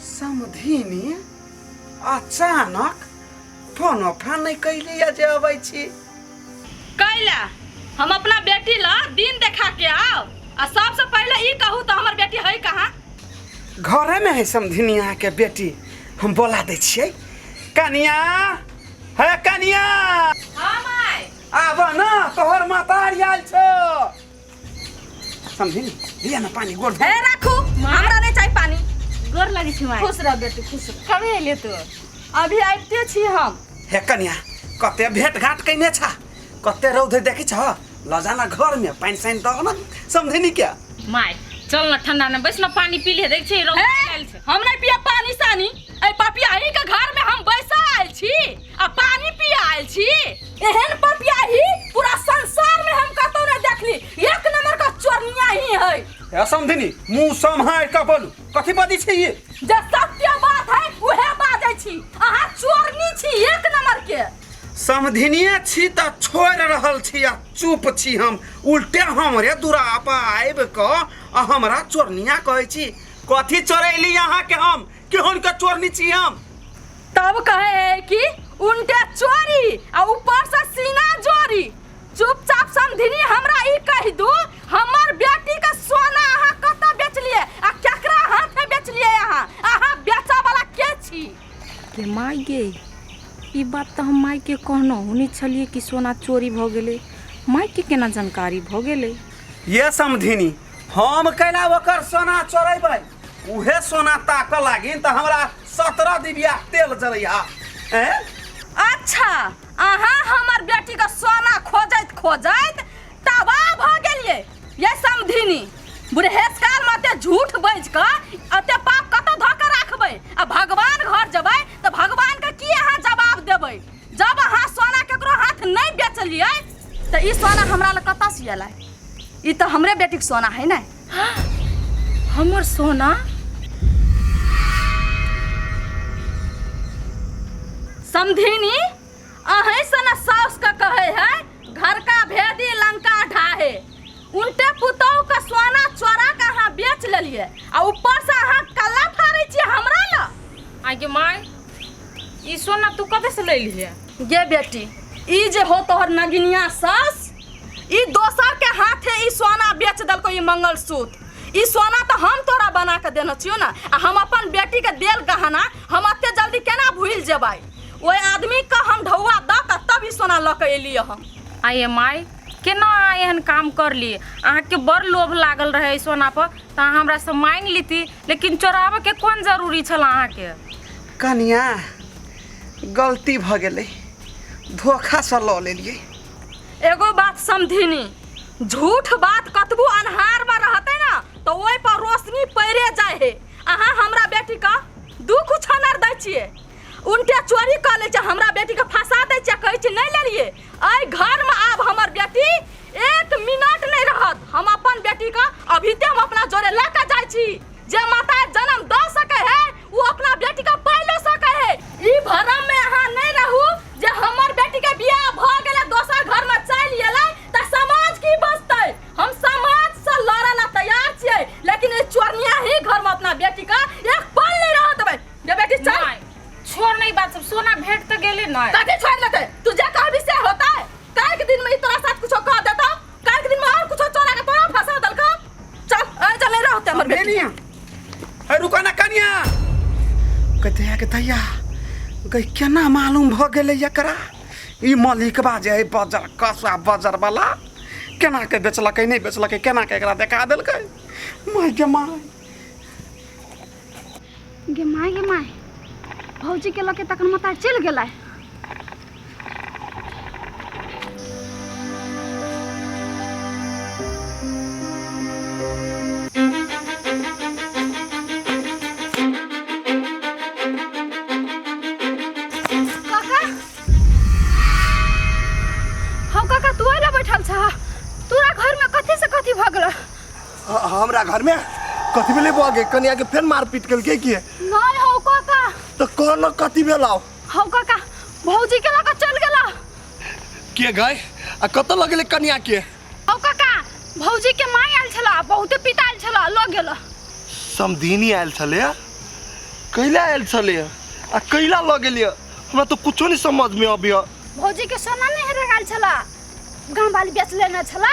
समधिनी अचानक फोन ओफा नहीं कैली जे अबै छी कैला हम अपना बेटी ला दिन देखा के आओ आ सबसे पहले ई कहू तो हमर बेटी है कहाँ घरे में है समधिनी यहाँ के बेटी हम बोला दै छियै कनिया है कनिया हाँ माय आब न तोहर मातारी आयल छौ समझी दिया ना पानी गोड़ हे राखू हमरा नहीं चाहिए पानी गोर लगी छी माय खुश रह बेटी खुश रह कभी अइले तू अभी आबिते छी हम हे कन्या कते भेट घाट कैने छा कते रौद देखी छ लजाना घर में पानी साइन दह ना समझे नहीं क्या माय चल ना ठंडा में बैस ना पानी पी ले देख छी रौद हे, आयल छै हम नहीं पिया पानी सानी ए पापिया ही के घर में हम बैसा आयल छी आ पानी पिया आयल छी एहन पपियाही पूरा संसार में हम कतौ न देखली एक नंबर का चोरनिया ही है ए समधिनी मुंह सम्हार के बोलू कथी बाजी छै ये जे सत्य बात है उहे बाजै छी अहाँ चोरनी छी एक नंबर के समधिनिये छी त छोड़ रहल छी आ चुप छी हम उल्टे हमरे दूरा पर आबि क आ हमरा चोरनिया कहै छी कथी चोरैली अहाँ के हम केहन के चोरनी छी हम तब कहे है कि उनके चोरी आ ऊपर से सीना जोरी चुपचाप समधिनी हमरा ई कह दू हमर बेटी के सोना अहाँ कत बेचलिए आ केकरा हाथ में बेचलिए अहाँ अहाँ बेचा वाला के छी रे माय गे ई बात तऽ हम माय के कहनो हुनी छलिए कि सोना चोरी भऽ गेलै माय के केना जानकारी भऽ गेलै ये समधिनी हम कैला ओकर सोना चोरेबै उहे सोना ताकऽ लागिन तऽ हमरा सत्रह दिबिया तेल जरैया ए अच्छा अहाँ हमर बेटी के सोना खोजैत खोजैत तबाह भ गेलिए ये समधिनी बुढ़ेस काल में अते झूठ बज क अते पाप कत धऽ के राखबै आ भगवान घर जेबै तऽ भगवान के की अहाँ जवाब देबै जब अहाँ सोना केकरो हाथ नहि बेचलिए तऽ ई सोना हमरा लग कतऽ से एलै ई तऽ हमरे बेटीक सोना है ने हमर सोना समधिनी अहें से ना सास का कहे है घर का भेदी लंका ढाहे उल्टे पुतोह का सोना चोरा के अहाँ बेच लेलिए आ ऊपर से अहाँ कल्ला फाड़े छियै हमरा ला आगे माय ई सोना तू कतऽ से लैली है गे बेटी ई जे हो तोहर नगिनिया सास ई दोसर के हाथे ई सोना बेच दलको ई मंगलसूत्र ई सोना तो हम तोरा बना के देने छियो ना आ हम अपन बेटी के देल गहना हम अते जल्दी केना भूल जेबै ओए आदमी के हम ढौआ द के तब ई सोना ल के एलिए हम आ ये माय केना अहाँ एहन काम कर ली अहाँके बड़ लोभ लागल रहे सोना पर तऽ अहाँ हमरा से मांग लीती लेकिन चोराबे के कोन जरूरी छल अहाँके कनिया गलती भऽ गेलै धोखासँ लऽ लेलियै एगो बात समधिनी झूठ बात कतबो अन्हार में रहते ना तो ओहि पर रोशनी पड़े जाए है अहाँ हमरा बेटी का दुख छनर दै छियै उनके चोरी कर ले छै हमरा बेटी के फंसा दै छै कहै छै नहीं लेलिए अय घर में आब हमर बेटी एक मिनट नहीं रहत हम अपन बेटी का अभी ते हम अपना जोरे लेके जाए छी जे माता जन्म द सके है वो अपना बेटी का पाइलो सके है ई भरम में अहाँ नहीं रहू जे हमर बेटी के बियाह भ गेले दोसर घर में चल गेले त समाज की बचते हम समाज से लड़े ला तैयार छिए लेकिन ए चोरनिया ही घर में अपना बेटी का एक पल नहीं रह देबे जे बेटी चल नहीं छोड़ नहीं बात सब सोना भेंट तो गेले नहीं कथी छोड़ लेते तू जे कहबी से होता है काल के दिन में ई तोरा साथ कुछ कह देता काल के दिन में और कुछ चोरा के तोरा फंसा दल का चल अरे चल नहीं रहते हमर बेटी कनिया अरे रुका ना कनिया कहते हैं कि दैया गई केना मालूम भ गेलै एकरा ई मलिकबा जे है बजर कसुआ बजर वाला केना के बेचलकै नहि बेचलकै केना के एकरा देखा देलकै माय गे माय गे माय गे माय भौजी के लके तखन मता चल गेलै काका हम काका तू अइला बैठल छह तोरा घर में कथी से कथी भगल ह- हमरा घर में कथी भेले बुआ के कन्या के फेर मारपीट कल के किए नहीं हो काका तो कौन कथी भेलाओ हो काका भौजी के लगा चल गेला के गए आ कत लगले कन्या के हो काका भौजी के माई आयल छला बहुते पिता आयल छला लग गेला समधीनी आयल छले कैला आयल छले आ कैला लग गेलिए हमरा तो कुछो नहीं समझ में अभी भौजी के सोना नहीं रगाल छला गांव वाली बेच लेना छला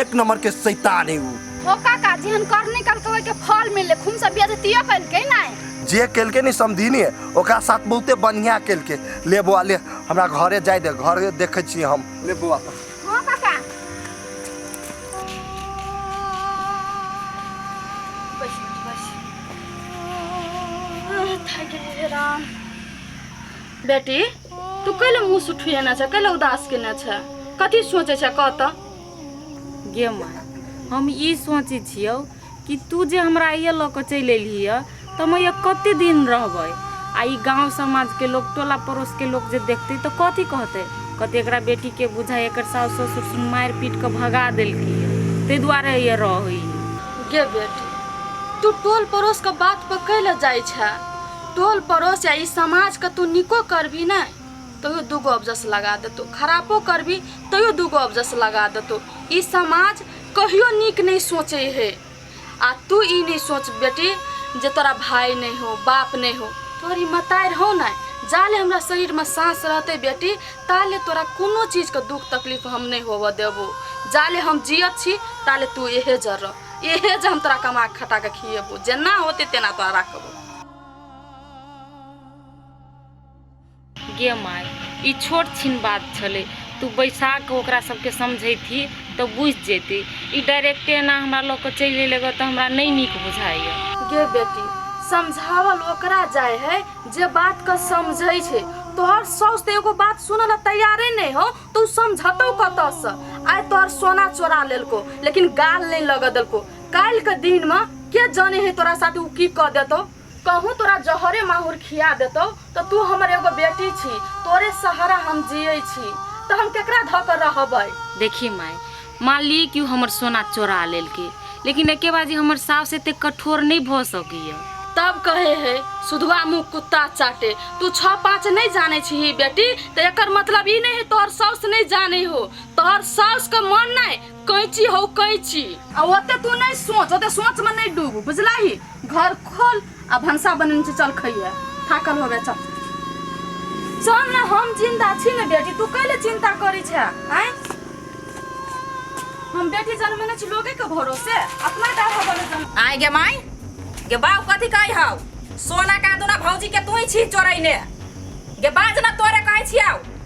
एक नंबर के शैतान है ऊ हो काका जेहन करनी कल कवे के फल मिले खून सब बिया दियो कल के नहीं जे केलके नहीं समझीनी है ओकरा साथ बहुते बढ़िया केलके ले बौआ ले हमरा घरे जाए दे घरे देखे छी हम ले बौआ हो काका बस बस थक गए राम बेटी तू कैले मुंह सुठिए ना छ कैले उदास के ना छ कथी सोचे छ कह त गे माय हम ई सोचै छियौ कि तू जे हमरा ये लऽ कऽ चलि एलही यऽ तऽ हम ये कते दिन रहबै आ ई गाँव समाजके लोक टोला पड़ोसके लोक जे देखतै तऽ कथी कहतै कहतै एकरा बेटीके बुझाइ एकर साउस ससुर सुन मारि पीट कऽ भगा देलकै ताहि दुआरे ये रहै गे बेटी तू टोल पड़ोसके बात पर कैले जाइ छै टोल पड़ोस या ई समाजके तू निको करबी नहि तैयो दूगो अबजस लगा देतौ खरापो करबी तैयो दूगो अबजस लगा देतौ ई समाज कहियो नीक नहीं सोचे है आ तू ई नहीं सोच बेटी जे तोरा भाई नहीं हो बाप नहीं हो तोरी मतार हो ना जाले हमरा शरीर में सांस रहते बेटी ताले तोरा कोनो चीज के दुख तकलीफ हम नहीं होव देबो जाले हम जियत छी ताले तू एहे जर रह एहे जे हम तोरा कमा खटा के खिएबो जेना होते तेना तोरा राखबो गे माय ई छोट छिन बात छलै तू बैसा कऽ ओकरा सबके समझैथी तऽ बुझि जेतै ई डायरेक्टे एना हमरा लऽ कऽ चलि एलै गऽ तऽ हमरा नहि नीक बुझाइए गे बेटी समझावल ओकरा जाय है जे बात के समझै छै तोहर साउस तऽ एगो बात सुनऽ लए तैयारे नहि हो तू समझतौ कतऽसँ आइ तोहर सोना चोरा लेलको लेकिन गाल नहि लगऽ देलको काल्हिके दिनमे के जाने है तोरा साथ ओ की कऽ देतौ कहूँ तोरा जहरे माहुर खिया देतौ तऽ तू हमर एगो बेटी छी तोरे सहारा हम जियै छी तऽ हम केकरा धऽ कऽ रहबै देखी माय मान ली कि ओ हमर सोना चोरा लेलकै लेकिन एके बार जे हमर साउस एते कठोर नहि भऽ सकैए तब कहे हे सुधुआ मुँह कुत्ता चाटे तू छः पाँच नहीं जाने छी बेटी तऽ एकर मतलब ई नहीं है तोहर साउस नहीं जाने हो तोहर साउस के मन नहीं कैची हौ कैची आ ओते तू नहीं सोच ओते सोच में नहीं डूब बुझला ही घर खोल आ भंसा बनने से चल खइए थाकल होबे चल चल ना हम जिंदा छी ना बेटी तू कैले चिंता करी छे आय हम बेटी जन्म ने छी लोगे के भरोसे अपना डाढ़ा बने जन्म आय गे माय गे बाऊ कथी कहै हौ सोना का दुना भौजी के तू ही छी चोरैने गे बाज ना तोरे कहै छियौ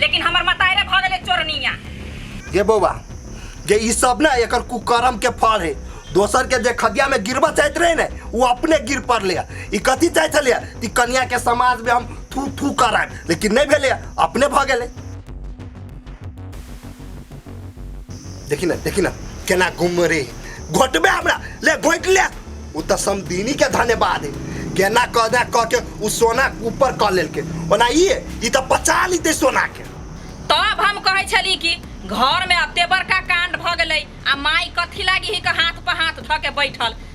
लेकिन हमर मतारे भ गेले चोरनिया ये बौआ जे ई सब ना एकर कुकर्म के फल है दोसर के जे खदिया में गिरबा चाहत रहे ने वो अपने गिर पड़ले है। ई कथी चाहत छले है? ई कन्या के समाज में हम थू थू कराएब लेकिन नहीं भेले है, अपने भ गेले देखी ना देखी ना केना घूम रे घोटबे हमरा ले घोट ले उ त समदीनी के धन्यवाद है केना कह दे कह के उ सोना ऊपर कह लेल के ओना ई है, ई त पचा लीते सोना के तब हम कहै छली कि घर में अते बड़का कांड भ गेलै आ माई कथी लागी ही के हाथ पर हाथ धऽ के बैठल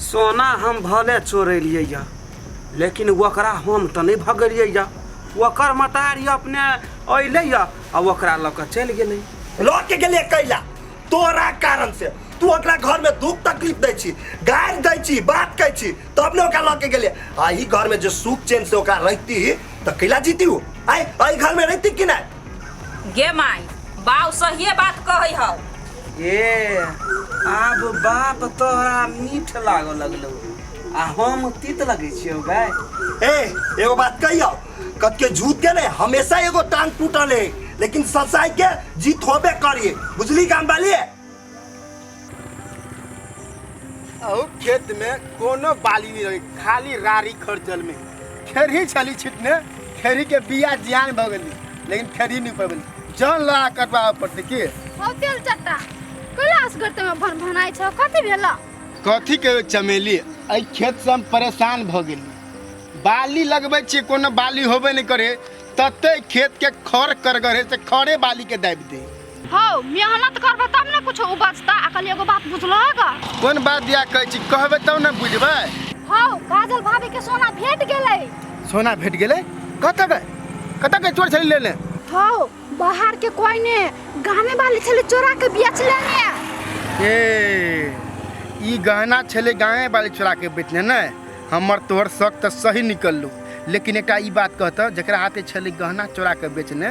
सोना हम भले चोरेलियै यऽ लेकिन ओकरा हम तऽ नहि भगेलियै यऽ ओकर मतारी अपने अयलै यऽ आ ओकरा लऽ कऽ चलि गेलै लऽ के गेलियै कैला तोरा कारण से तू ओकरा घर में दुख तकलीफ दै छी गारि दै छी बात कहै छी तब ने ओकरा लऽ के गेलियै आ ई घर में जे सुख चैन से ओकरा रहिती तऽ कैला जीती ओ आय एहि घर में रहिती कि नहि गे माई बाऊ सहिए बात कहै हौ ए आब बाप तोहरा मीठ लागऽ लगलौ आ हम तीत लगै छियौ बे ए एगो बात कहियो कतके झूठ के ने हमेशा एगो टांग टूटल है लेकिन सच्चाई के जीत होबे करिए बुझली काम वाली अहू खेत में कोनो बाली नहीं रही खाली रारी खर्चल में खेरही छली छिटने खेरही के बिया जियान भ गेली लेकिन खेरही नहीं पबली जान लगा कटवावे पड़ते की हो तेल चट्टा कैलाश करते में भन भनाइ छ कथी भेल कथी के चमेली एहि खेत से हम परेशान भ गेली बाली लगबै छियै कोनो बाली होबे नहि करे तते खेत के खर करगरे से खरे बाली के दाबि दे हौ मेहनत करबे तब ने कुछ उपजता आ कल एगो बात बुझलो ग कोन बात दिया कहै छी कहबे तब ने बुझबै हौ काजल भाभी के सोना भेट गेलै सोना भेट गेलै कतऽ बे कतऽ के चोर छलै लेने हौ बाहर के कोई ने गामे वाली छले चोरा के बेच लेने ए ई गहना छलै गाँवे वाली चोरा के बेचने ने हमर तोहर शक तऽ सही निकललू लेकिन एकटा ई बात कहतऽ जकरा हाथे छलै गहना चोरा के बेचने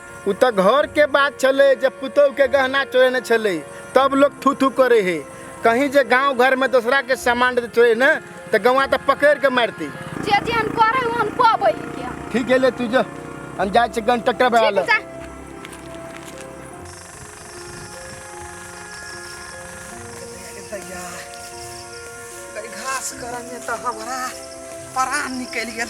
ओ तऽ घरके बात छलै जे पुतौहके गहना चोरेने छलै तब लोक थू थू करै हे कहीं जे गाँव घरमे दोसराके सामान चोरे ने तऽ गौआ तऽ पकड़िके मारतै जे जेहन करे ओहन पबै के ठीक है ले तू जो हम जाइ छी गन टक्कर बना ठीक ले जा घास करने तऽ हमरा परान निकलि गेल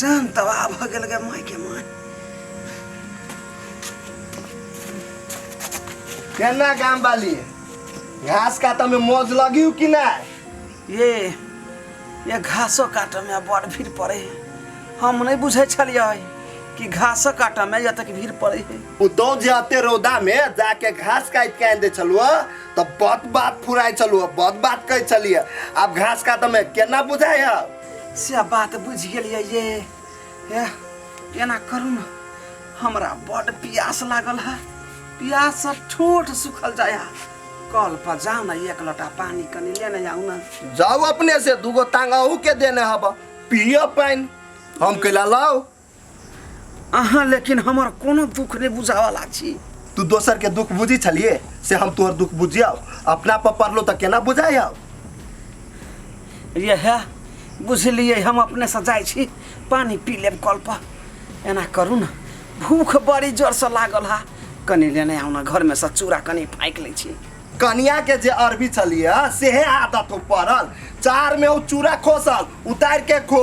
जान तबाह भऽ गेल गे माय के माय केना गाम वाली घास काटऽ में मौज लगी कि ना ये ये घासो काटऽ में बड़ भीड़ पड़े है हम नहीं बुझे छलिए कि घासो काटऽ में जब तक भीड़ पड़े है उ दो जाते रौदा में जाके घास काट के आन दे छलुआ तब बहुत बात फुराए छलुआ बहुत बात कहे छलिए अब घास काटऽ में केना बुझाए है से बात बुझि गेलिए ये हे एना करू ने हमरा बड प्यास लागल है प्यास से ठोठ सुखल जाय है। कल पर जाओ ना एक लोटा पानी कनी लेने जाओ ना जाओ अपने से दूगो तांगा अहू के देने हब पिय पानि हम कैला लाओ अहाँ लेकिन हमर कोनो दुख नहि बुझावला छी तू दोसर के दुख बुझी छलिए से हम तोहर दुख बुझियो अपना पर पड़लो तो केना बुझाय हो यह बुझलिए हम अपने से जाइ छी पानी पी लेब कल पर एना करू ने भूख बड़ी जोर से लागल हा कनी लेने आउ ने घर में से चूड़ा कनी फाँकि लै छी कनिया के जे अरबी छलिए सेहे आदत हो पड़ल चार में उ चूड़ा खोसल उतार के खो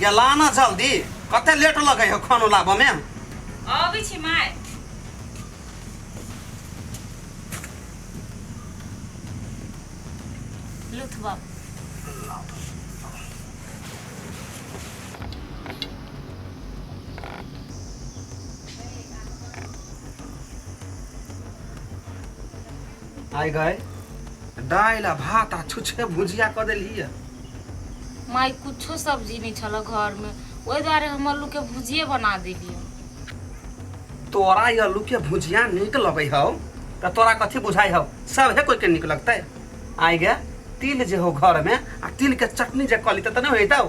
गेला ना जल्दी कते लेट लगे हो खानो लाबऽ में अबै छी माय लुथ बाबू आइ गए दालि आ भात आ छुछे भुजिया कऽ देलियै माय कुछो सब्जी नहीं छल घर में ओहि दुआरे हम आलू के भुजिए बना देलियै तोरा ई आलू के भुजिया नीक लगै हौ तऽ तोरा कथी बुझाइ हौ सभे कोइ के नीक लगतै आइ गए तिल जे हो घर में आ तिल के चटनी जे कऽ लितै तऽ नहि होइतौ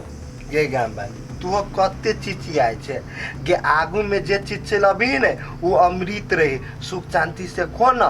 ये गाम बाली तू कते चिचियाय छे गे आगू में जे चीज चलबी ने वो अमृत रही सुख शांति से खो ना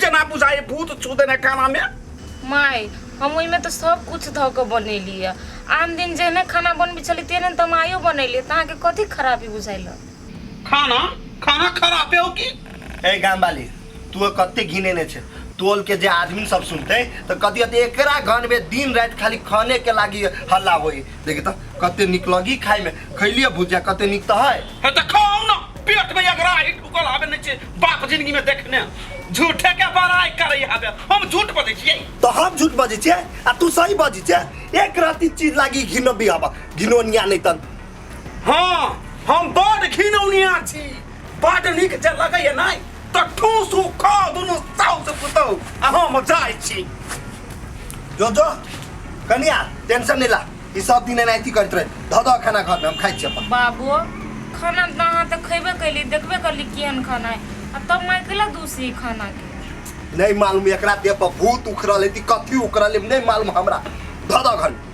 जेना बुझाइ भूत छू देने खाना में माय हम ओहिमे तऽ सब कुछ धऽ कऽ बनेली है आन दिन जेहने खाना बनबै छली तेहने तऽ हम आइयो बनेली तऽ अहाँके कथी खराबी बुझाइल खाना खाना खराब है की ए गाम वाली तू कते घिने ने छे टोल के जे आदमी सब सुनते तो कथी हते एकरा घर में दिन रात खाली खाने के लागी हल्ला होई देखी तो कते निक लगी खाए में खैलिए भुजिया कते निक तो है है तो खाओ ना पेट में अगर आही ढुकल आवे नहीं छे बाप जिंदगी में देखने झूठे के बड़ाई करे हबे हम झूठ बजे छिए तो हम झूठ बजे छे आ तू सही बजे छे एक राती चीज लागी घिनो भी हवा घिनो निया नहीं तन हां हम बड़ घिनौनिया छी बड़ निक जे लगे है नहीं तो ठूस खा दोनों साउ से पुतो आ हम जाय छी जो जो कनिया टेंशन नहीं ला ई सब दिन एनाहिती करैत रहे धऽ दऽ खाना घर में हम खाइ छी अपन बाबू खाना तऽ अहाँ तऽ खयबे कैली देखबे करली केहन खाना है आ तब माय कैला दूसरी खाना के नहीं मालूम एकरा देह पर भूत उखड़ल है कथी उखड़ल है नहीं मालूम हमरा धऽ दऽ घर में।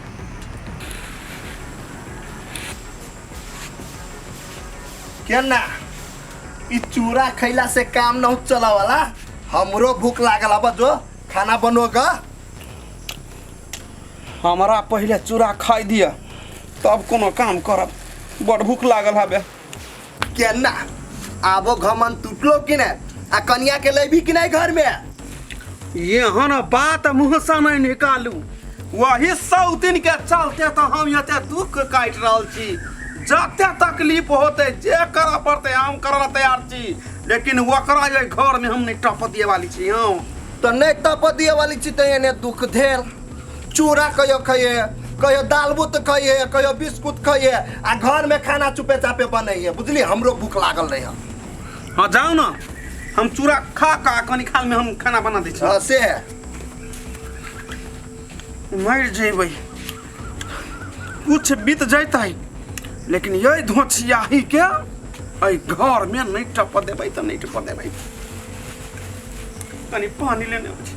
केना ई चूड़ा खैला से काम न चला वाला हमरो भूख लागल अब जो खाना बनो गा हमरा पहिले चूड़ा खाइ दिअ तब कोनो काम करब बड़ भूख लागल हबे केना आबो घमन टूटलो कि ने आ कनिया के लेबी कि नहीं घर में एहन बात मुँह से नहीं निकालू वही सौतिन के चलते तो हम एते दुख काटि रहल छी जते तकलीफ होते जे करऽ पड़ते हम करऽ ला तैयार छी लेकिन ओकरा जे घर में हम नहीं टप दिए वाली छी हम तऽ नहि तपऽ दिए वाली छी तऽ एने दुख धेर चूड़ा कहियो खइए कहियो दाल बुत खइए कहियो बिस्कुट खइए आ घर में खाना चुपे चापे बनैए बुझली हमरो भूख लागल रहे हाँ जाओ ना हम चूड़ा खा का कनी खाल में हम खाना बना दी छी हाँ से है मर जेबै कुछ बीत जैतै लेकिन यही धोछियाही के एहि घर में नहीं टप देबै तऽ नहीं टप देबै कनी पानी लेने आबै छी